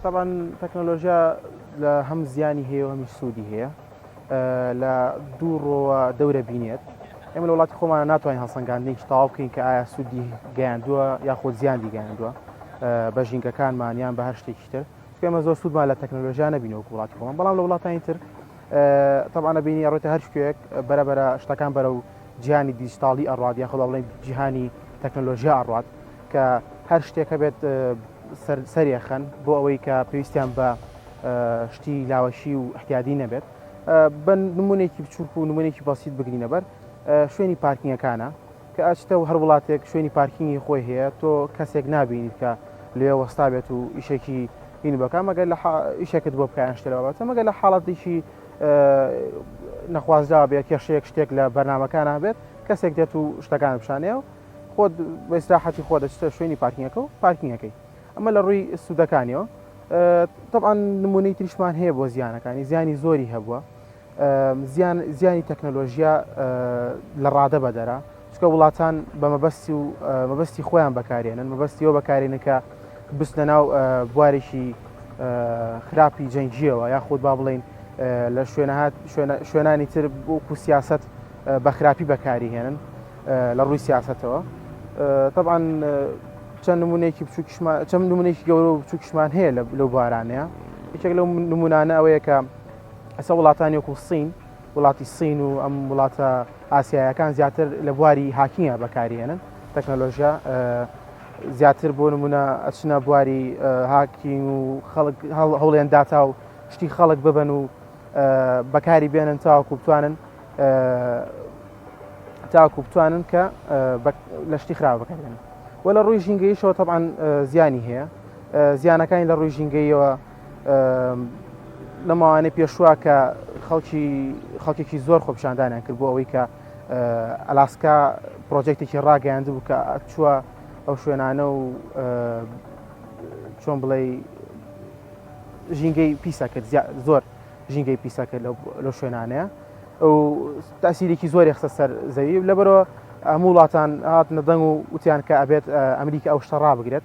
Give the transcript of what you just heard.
تەبعەن تەکنەلۆژیا لە هەم زیانی هەیە و هەمی سوودی هەیە لە دوو ڕۆوە دەورە بینێت ئێمە لە وڵاتی خۆمانە ناتوانین هەڵسەنگاندنیش تاو بکەین کە ئایا سوودی گەیاندووە یاخود زیاندی گەیاندووە بە ژینگەکانمان یان بە هەر شتێکی تر ئێمە زۆر سوودمان لە تەکنەلۆژیا نبینەوە وڵاتی خۆمان بەڵام لە وڵاتانی تر تەبانە بینی ڕێتە هەر شتێک بەرەبەرە شتەکان بەرە و جیهانی دیجیتاڵی ئەڕات یاخۆ با بڵێین جیهانی تەکنەلۆژیا ئەڕات کە هەر شتێک هەبێت سەرێخەن بۆ ئەوەی کە پێویستیان بە شتی لاوەشی و احتیادی نەبێت بە نمونێکی بچووک و نمونێکی بەسییت بگرینە بەر شوێنی پارکینگەکانە کە ئەچتە و هەر وڵاتێک شوێنی پارکینگی خۆی هەیە تۆ کەسێک نبینیت کە لێ وەستا بێت و ئیشێکی هین بەکە مەگەر لە ئیشێکت بۆ بکەیان شتەوە بەتە مەگەر لە حاڵەتێکی نەخوازراوە بێ کێشەیەک شتێک لە بەرنمەکان هەبێت کەسێک دێت و شتەکان پیشانەیە و خۆت بەسراحەتی خۆ دەچتە شوێنی پارکینەکە و پارکینەکەی ئەمە لە ڕووی سوودەکانیەوە طبعاان نمونەی تریشمان هەیە بۆ زیانەکانی زیانی زۆری هەبووە زیانی تەکنەلۆژیا لە ڕادە بەدەرە چونکە وڵاتان بە مەبەستی و مەبەستی خۆیان بەکارێنن مەبەستی ئەوە بەکارێنە کە بستنە ناو بوارێکی خراپی جەنگیەوە یاخود با بڵین لە شوێنەهات شوێنانی تر بۆکو سیاست بە خراپی بەکاری هێنن لە ڕووی سیاستەوە طبعا چەند نمونێکی بچووکشمان چەند نمونێکی گەورە و بچووکشمان هەیە لە لەو بارانەیە یەکێک لەو نمونانە ئەوەیە کە ئەسە وڵاتانی وەکو سین وڵاتی سین و ئەم وڵاتە ئاسیایەکان زیاتر لە بواری هاکینگە بەکاریێنن تەکنەلۆژیا زیاتر بۆ نمونە ئەچنە بواری هاکینگ و خەڵک هەوڵێن داتا و شتی خەڵک ببن و بەکاری بێنن تاوەکو بتوانن تاکو بتوانن کە لە شتی خراپ بکەن وە لە ڕووی ژینگەیشەوە تەعاان زیانی هەیە زیانەکانی لە ڕووی ژینگەیەوە لە ماوانەی پێشوە کە خەڵکی خەڵکێکی زۆر خۆپشاندانیان کرد بۆ ئەوەی کە ئەلاسکا پرۆژێکتێکی ڕاگەیاند بوو کە چووە ئەو شوێنانە و چۆن بڵێ ژینگەی پیسە کرد زۆر ژینگەی پیسە کرد لە شوێنانەیە ئەو تاسیرێکی زۆری خسە سەر زەوی لەبەرەوە هەموو وڵاتان هاتنە دەنگ و وتیان کە ئەبێت ئەمریکا ئەو شتە ڕابگرێت